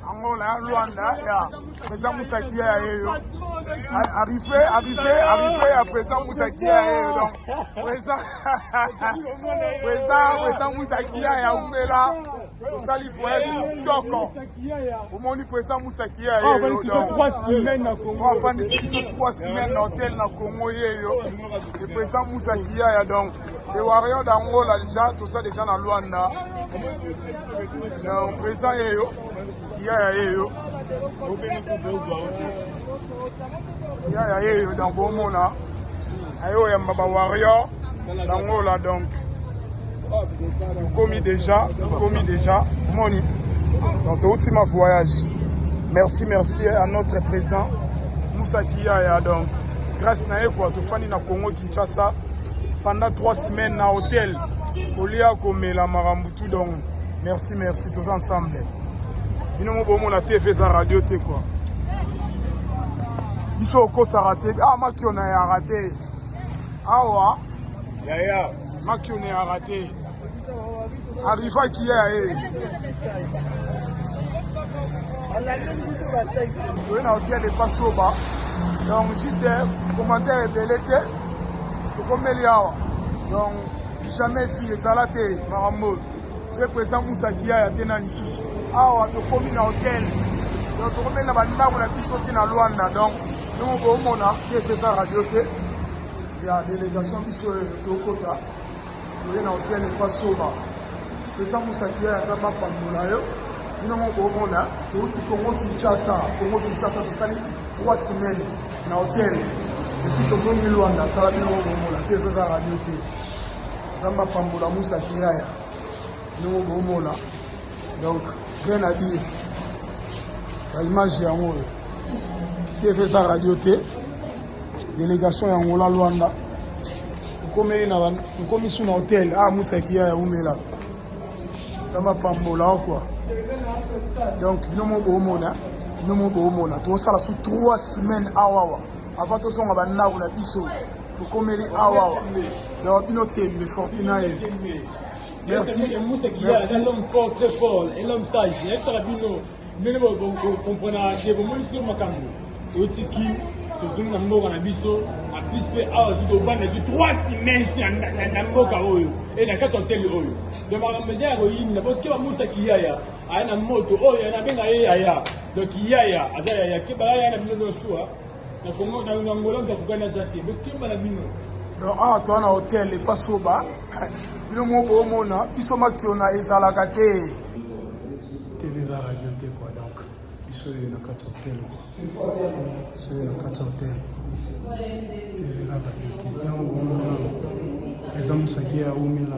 angola ya luanda ya président musakia ya yeyo arrive arrive arrive ya président musakia ya yeyo donc président président président musakia ya umela tosali voyage kitoko omoni président musakia ya yeyo afandisi biso 3 semaine na hotel na congo yeyo le président musakia ya donc Les warriors d'Angola déjà tout ça déjà na Luanda. Donc président yeyo, kia ya yeyo. Kia ya yeyo dans bomona. Ayo ya mbaba warrior d'Angola donc. Komi déjà, komi déjà. Moni. Donc tout ultime voyage. Merci merci à notre président Moussa Kiaya donc grâce na ye quoi tofandi na Congo Kinshasa pendant 3 semaines na hotel kolia komela makambo tout donc merci merci toza ensemble bino mo bomona tv eza radio te kua biso okosaka te ah makiona ya rate awa yaya makiona ya rate Arriva qui est eh. Toye na hotel epa soba donc juste commentaire ebele te tokomeli awa donc jamais fille ezala te makambo fe présent musaki yaya te na lisusu awa tokomi na hotel donc tokomeli na bandako na biso te na lwanda donc ndenge boomona te eza radio te ya délégation biso tokota Toye na hotel epa soba. Pesa musaki yaya nzambe apambola yo. Bino moko bomona touti Congo Kinshasa, Congo Kinshasa tosali 3 semaines na hotel. Epi tozongi Luanda tala bino moko bomona te toza radio te. Nzambe apambola musaki yaya. Bino moko bomona. donc rien à dire ba image yango oyo tv eza radio te délégation ya ngola lwanda tokomeli na tokomi su na hotel a ah, musaki ya yaumela nzambe apambola okwa donc bino mo boomona bino mo boomona tokosala su trois semaines awawa avant tozonga bandako na biso tokomeli awawa donc bino tembe fortinaye Merci. Merci. Un homme fort, très fort, un homme sage. Il y a ça bino. Mene bo bo comprendre que bo moni sur makambo. Oti ki tozongi na mboka na biso na plus mpe awa zito ovanda zwi trois semaines na mboka oyo e na kati ya hotel oyo donc makambo eza ya koyinda po keba musa kiyaya aya na moto oyo nabenga ye yaya donc yaya aza yaya keba yaya na bino nyonso Na Congo na na Angola mtu akugani aza te. Bokemba na bino. Donc awa toa na hotel epa soba bino moko boomona biso makiona ezalaka te tv eza radio te kua donc biso oyo na kati hotel kua biso oyo na kati hotel tv eza radio te yango omona eza mosaki ya umela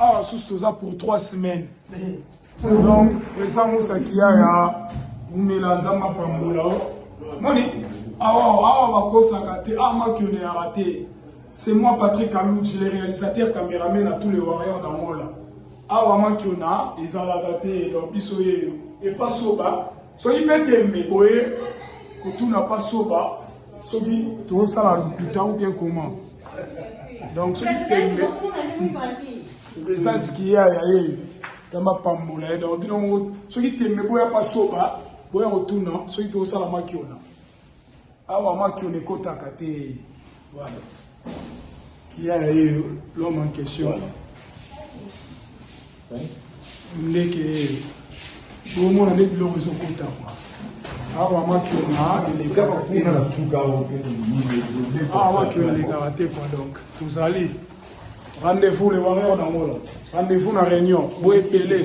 awa ah, susu toza pour 3 semaines donc eza musa kiyaya umela nzambe apambola o moni awa awa bakosaka te awa ah, makioneyaka te c'est moi patrick aluji le réalisateur cameraman na tous les warriors d'angola awa makiona ezalaka te donc biso yeyo epasoba soki mpe tembe boye kotuna pasoba soki tozosala lokuta ou bien comment donc soki tembe president tikiya ya ye tamba pambola ye donc bino moko soki tembe boya pasoba boya kotuna soki tozosala makiona awa makiona ekotaka te voilà Qui a eu l'homme en question Voilà. Hein? ndeke ye omona nde biloko ezokota kwa awa makiona elekaka Kaka kuna na te suka oyo pesa mimi. awa makiona elekaka te kwa donc tozali rendez-vous le warrior na ngolo rendez-vous na réunion boepele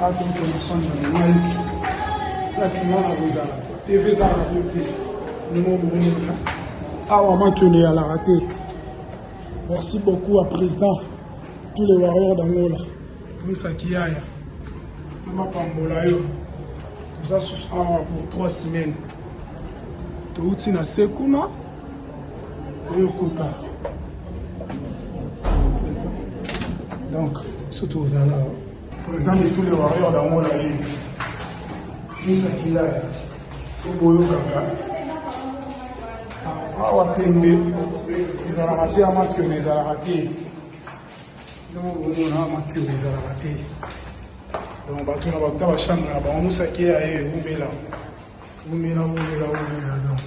bato moto mosani na mayoki na nsima na kozala tv eza radio te ndenge okomona awa makione yalaka te merci beaucoup à président tous les warriors d'angola misa kiyaya mapambola yo toza susu awa pour trois semaines touti na se kuna Eyokota. Donc, surtout aux Anna. Président de tous les warriors dans mon allée. Misa Kilaya. Oboyo Kaka. Awa Pembe. Ezalaka te ya matio, mais ezalaka te. Yango bomona matio ezalaka te. Donc, bato na bato bachambre na bango mosaki ya ye, umela. Umela, umela, umela, donc.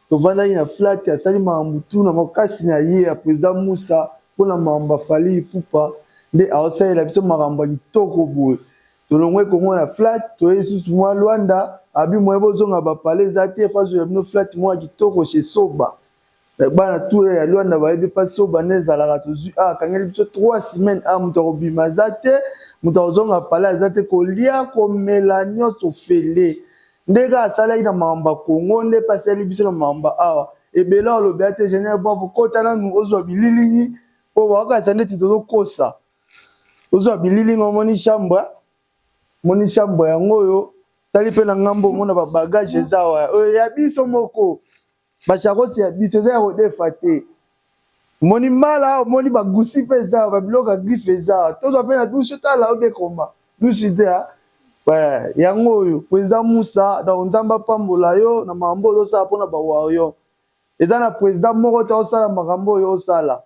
Tovandaki na flat asali mawa mutu na makasi na ye ya president Musa pona makambo ya Fally Ipupa nde aosalela biso makambo ya kitoko boye tolongwe Congo na flat toye lisusu mua Luanda abi moyen bozonga ba palais eza te faut azuela bino flat moko ya kitoko chez Soba bana tout ya Luanda bayebi epa Soba nde ezalaka tozui awa akangeli biso trois semaines awa mutu ya kobima aza te mutu ya kozonga palais aza te kolia komela nionso ofele Nde kaka asalaki na mamba Congo nde pe asali biso na mamba awa ebele awa olobi ate general buafu kota nanu ozua bililingi po baokanisa ndeti tozokosa ozua bililingi omoni chambre omoni chambre yango oyo tali pe na ngambo omona ba bagage eza awa oyo ya biso moko bashakosi ya biso eza ya kodefa te Omoni mala awa omoni ba gusi pe eza awa ba biloko ya griffe eza awa tozwa pe na dusu tala obe koma dusu te ha eh yango oyo president musa donc nzambe apambola yo na makambo ozo sala pona ba warrior eza na president moko te osala makambo oyo osala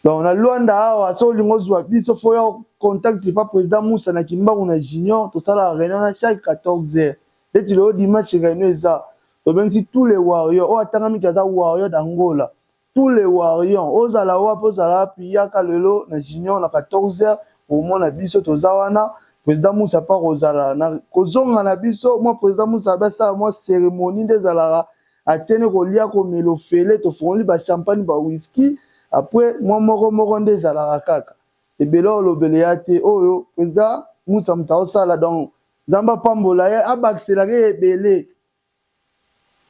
donc na luanda awa soki olingi ozwa biso fo oya contact epa president musa na kimbangu na junior tosalaka reunion na chaque 14 heures Neti lelo dimanche reunion eza tobengisi tout le warrior oyo atangami te aza warrior d'angola tout le warrior ozala wapi ozala wapi yaka lelo na junior na 14 heures omona biso toza wana president musa pa kozala na kozonga na biso mwa president musa abe asala mwa ceremonie nde ezalaka atiene kolia komela ofele tofongoli ba champagne ba whisky apres mwa moko moko nde ezalaka kaka ebele olobele ya te oyo president musa moto aosala donc Nzambe apambola ye abakisela ke ebele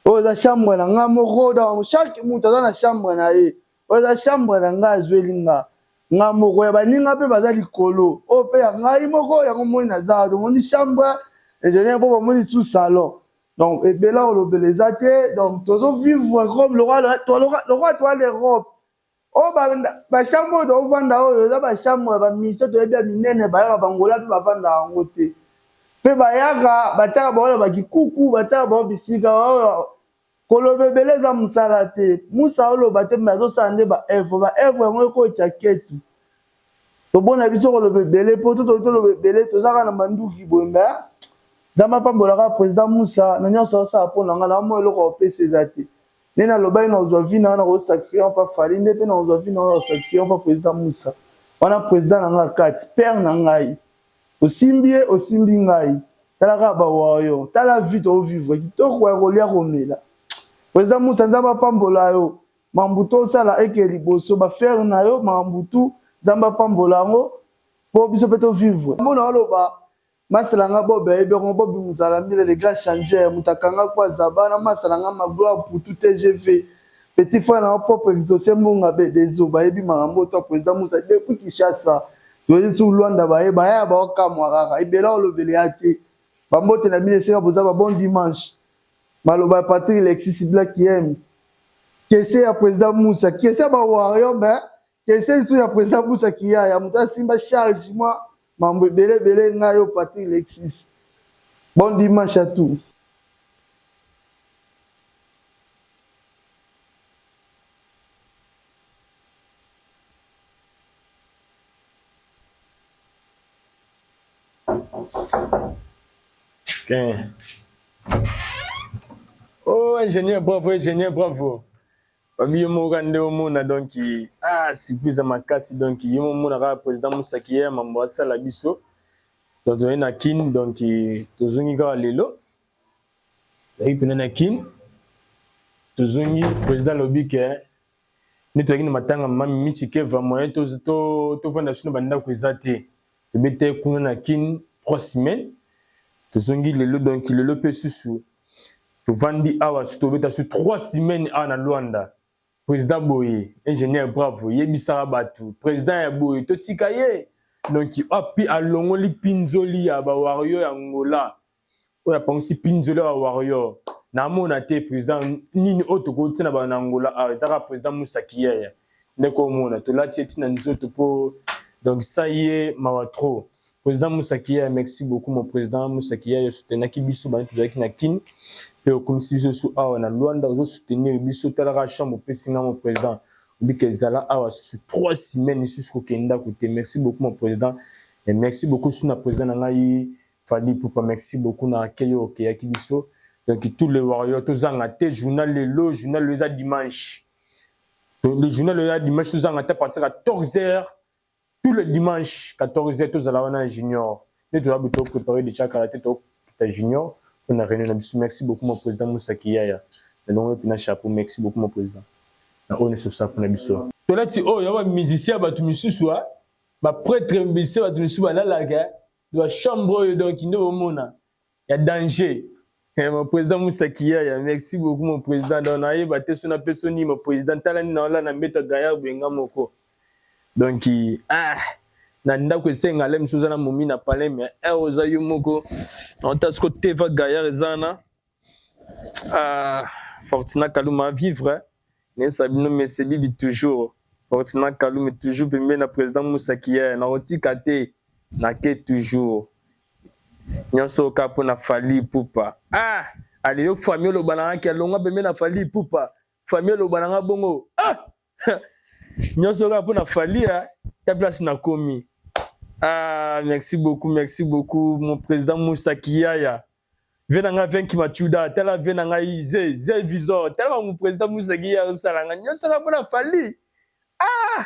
oyo eza chambre na nga moko donc chaque moto aza na chambre na ye oyo eza chambre na nga azweli nga nga moko ya baninga mpe baza likolo oyo mpe ya ngai moko yango moni naza tomoni chambre ezali mpo bamoni su salon donc ebela kolobela eza te donc tozo vivre comme lokola toale europe oyo bachambre oyo tokovanda oyo eza bachambre ya bamise toyebi ya minene bayaka bangola mpe bavandaka yango te mpe bayaka batiaka baoyo bakikuku batiaka bao bisika oyo koloba ebele eza mosala te musa oloba te me azosala nde baevre baevre yango ekotya ketu tobona biso koloba ebele mpo to toki toloba ebele tozaka na manduki boye me nzambe apambolaka président musa na nyonso asala mpo na ngai na mwa eloko opesa eza te Nde na lobaki na kozwa vie na nga na ko sacrifier yango pa Fally nde pe na kozwa vie na nga na ko sacrifier yango pa President Moussa wana President na nga kati père na ngai osimbi ye osimbi ngai tala kaka ba warrior tala vie to vivre kitoko ya kolia komela President Moussa Nzambe apambola yo mambu to sala eke liboso ba ferre na yo mambu tout Nzambe apambola yango po biso pe to vivre mona oloba Masta na nga Bob ayebi yango Bob Muzala Mbila le grand changeur moto akanga Kwa Zaba na masta na nga Magloire pour tout tgv petit frère na yo Propre Exauce Mbunga be des eaux bayebi makambo oyo toi President Musa depuis Kinshasa toyei sur Luanda baye bayaya bao kamwa kaka ebela olobeli ya te ba mbote na bino esika boza ba bon dimanche maloba ya Patrick Lexis Black Yem kese ya President Musa kese ya ba warrior mais Kese lisu ya president busa kiyaya moto asimba charge mwa mambo ebele ebele ngai yo Patrick Lexis. Bon dimanche à tous. Ken. Oh, ingénieur, bravo, ingénieur, bravo. Babi yo moko kaka nde omona donc ah surprise ya makasi donc yo omona kaka president Musaki ya mambo asala biso donc tozali na Kin donc tozongi kaka lelo tozali mpena na Kin tozongi president alobi ke nde tozalaki na matanga mami Michi Keva moyen tovanda biso na bandako eza te tobetaki kuna na kin 3 semaine tozongi lelo donc lelo mpe susu tovandi awa su tobeta su 3 semaine awa na luanda président boye ingénieur bravo yebisaka bato président ya boye totika ye donc api alongoli pinzoli ya bawario ya ngola oyo apangisi pinzoli ya warrior namona te président nini oyo tokoki ntina bana na angola awa ezaka président musa kiyaya ndeko omona tolati eti na nzoto mpo donc sa ye mawa trop président musa kiyaya merci beaucoup mon président musa kiyaya osutenaki biso bani tozalaki na kin mpe okumisi biso su awa na luanda ozosoutenir biso talaka chambre opesi nga mon président obika ezala awa susu trois semaines lisusu kokende ndako te merci beaucoup mon président et merci beaucoup su na président na ngai Fally Ipupa merci beaucoup na accueil oyo okeyaki biso donc tout le warrior tozanga te journal lelo journal lelo eza dimanche le journal lelo ya dimanche tozanga te à partir ya 14 heures tout le dimanche 14 heures tozala wana ya junior nde toya buto préparer déjà kala te tokita junior mpo na réunion na biso merci beaucoup mon président Moussa Kiyaya nalongo mpe na chapeau merci beaucoup mon président na oyo nyonso osala mpo na biso tolati oyo ya bamusicien ya bato misusu ba prêtre musicien bato misusu balalaka Ba chambre oyo donc nde bomona ya danger. Eh, mon président Moussa Kiyaya, merci beaucoup mon président. Donc nayeba te sona pe soni mon président tala ni naola na mbeta gaillard benga moko. Donc ah na ndako esenga le misuza na momi na palais mais eh oza yo moko. Nota siko teva gaillard ezana. Ah, Fortuna Kaluma vivre nesa bino mese bibi toujours Fortuna Kaluma toujours pembeni na président Moussa Kier na otika te na ke toujours nyonso oka mpo na Fally Ipupa ah ale yo famille oloba na nga ke alongwa pembeni na Fally Ipupa famille oloba na nga bongo ah nyonso kaka mpo na falia ta place nakomi ah, merci beaucoup merci beaucoup mon président musa kiyaya vie na ngai venki machuda tala vie na ngai ze ze visor tala bango président musa kiyaya osala ngai nyonso kaka mpo na fali ah!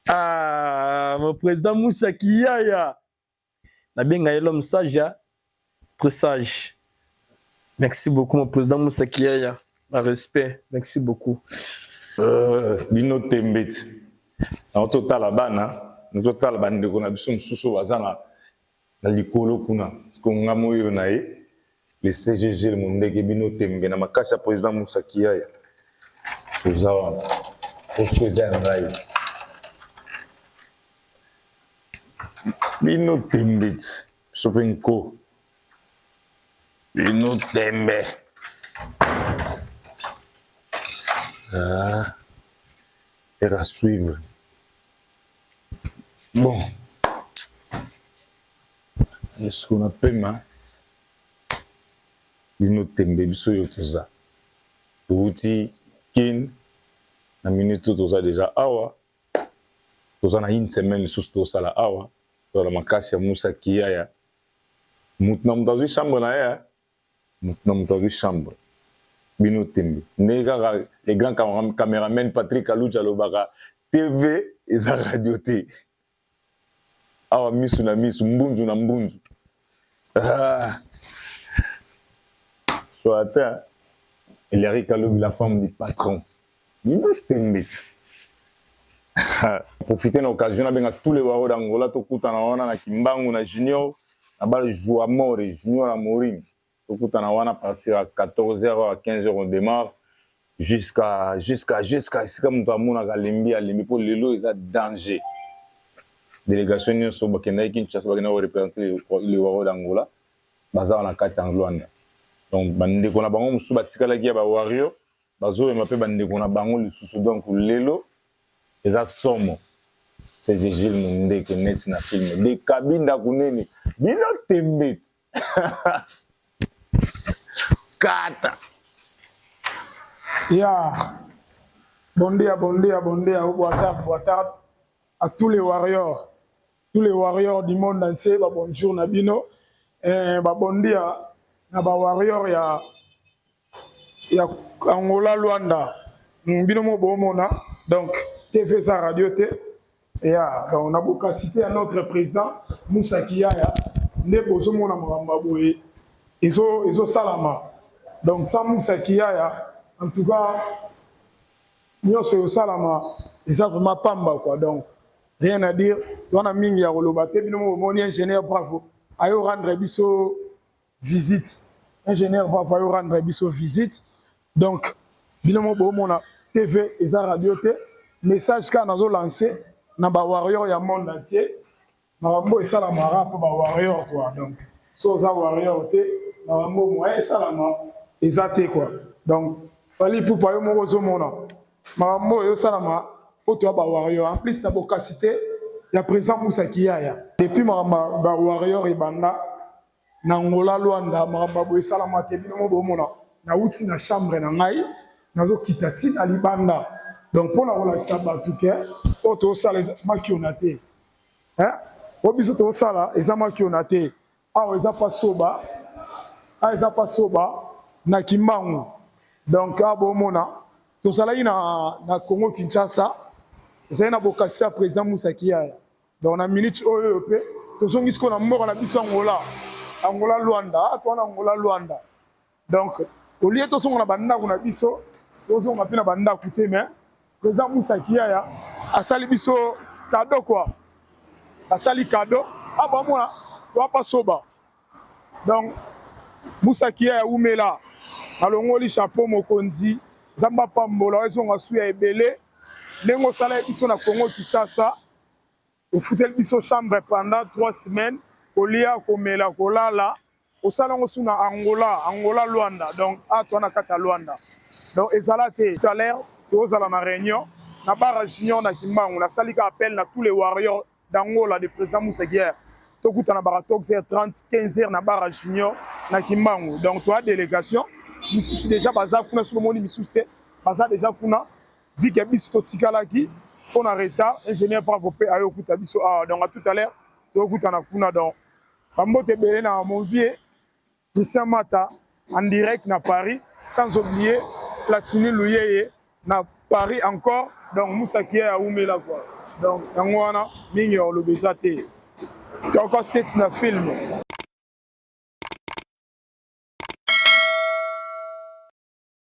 ah, mon président musa kiyaya nabenga ye l'homme sage ya presage merci beaucoup mon président mosaki yaya na respect merci beaucoup euh, bino tembe ti yango totala bana totala bandeko na biso mosusu baza na likolo kuna siko nga moyo na ye Le CG Gilles Mundege bino tembe na makasi ya president Moussa Kiyaya. Toza wana. Poso eza ya ngai. Bino tembe ti. Biso mpe nko. Bino tembe. Ah. Faire à suivre. Bon. Yesu na pema bino tembe biso yo toza touti kin na minute oyo toza deja awa toza na une semaine lisusu tosala awa toza na makasi ya musa kiyaya motu na moto azwi chambre na ye motu na moto azwi chambre bino tembe ndenge kaka le grand cameraman patrick aluti alobaka tv eza radio te awa misu na misu mbunzu na mbunzu ah. so ata elari kalobi la femme du patron yina tembe ah. profite na occasion nabenga tous les waro d'angola tokutana wana na kimbangu na junior na bale juamore junior amorim Tokutana wana à partir ya 14 heures ou à 15 heures on demarre jusqu'à jusqu'à jusqu'à esika moto amonaka alembi alembi mpo lelo eza danger. Delegation nyonso bakendaki Kinshasa bakendaki ko representer le Waro d'Angola baza wana kati ya Luanda. Donc bandeko na bango mosusu batikalaki ya ba Wario bazomema mpe bandeko na bango lisusu donc lelo eza somo. C'est Gilles Mundeke neti na film de Kabinda kunene bino tembeti. Kata. Yeah. Bon dia, bon dia, bon dia, ou boa tarde, boa tarde à tous les warriors, tous les warriors du monde entier, bah bonjour Nabino, et eh, bah bon dia, na bah warrior ya ya Angola Luanda hmm, bino mo bomona donc TV eza radio te ya donc na bokasite ya notre président Moussa Kiyaya nde bozomona makambo boye ezo ezosalama donc sans Moussa Kiyaya en tout cas nyonso ezosalama eza vraiment pamba quoi donc rien à dire toza na mingi ya koloba te bino mo bomoni ingénieur bravo ayo rendre biso visite ingénieur papa yo rendre biso visite donc bino mo bomona tv eza radio te message kaka nazo lancer na ba warrior ya monde entier makambo esalamaka mpo ba warrior quoi donc so oza warrior te makambo moyen esalama eza te quoi donc fali ipupa yo moko ozomona makambo oyo esalama mpo toya ba warrior en plus na bokasi te ya président musa kiyaya depuis makambo ba warrior ebanda na Angola, Luanda, makambo ya boye esalama te. Bino moko bomona, nauti na chambre na ngai, nazokita ti na libanda. Donc mpo na kolakisa bato ke oyo tosala eza makiona te, eh? oyo biso tosala eza makiona te. Awa eza pa soba, awa eza pa soba na Kimbangu. Donc awa bomona, tozalaki na, na Congo Kinshasa, ezali na bokasi ya president Musa Kiyaya. Donc na minute oyo pe tozongi siko na mboka na biso Angola. Angola Luanda, ah, toi na Angola Luanda. Donc au lieu tozonga na bandako na biso, tozonga pe na bandako te mais président Moussa Kiaya asali biso cadeau quoi. Asali cadeau, ah ba mona, toi pas soba. Donc Moussa Kiaya umela. Alongoli chapeau mokonzi. Nzambe apambola ezonga suya ebele. Ndenge osala biso na Congo Kinshasa. ofuteli biso chambre pendant trois semaines kolia komela kolala osala yango su na angola angola luanda donc atwa na kati ya luanda donc ezala te tout à l'heure tozala na réunion na bara junior na kimbangu nasali ka appel na tous les warriors d'angola de président museguière tokutana bara toxer 30 15 heures na bara junior na kimbangu donc toa délégation misusu déjà baza kuna soki omoni misusu te baza déjà kuna Vu que biso totikalaki mpo na retard, ingénieur Bravo mpe ayo okuta biso awa donc à tout à l'heure tokutana kuna donc bambote ebele na mon vieux Christian Mata en direct na Paris sans oublier Platini Luyeye na Paris encore donc Moussa Kiya ya Wumela quoi donc yango wana mingi ya koloba eza te toko state na film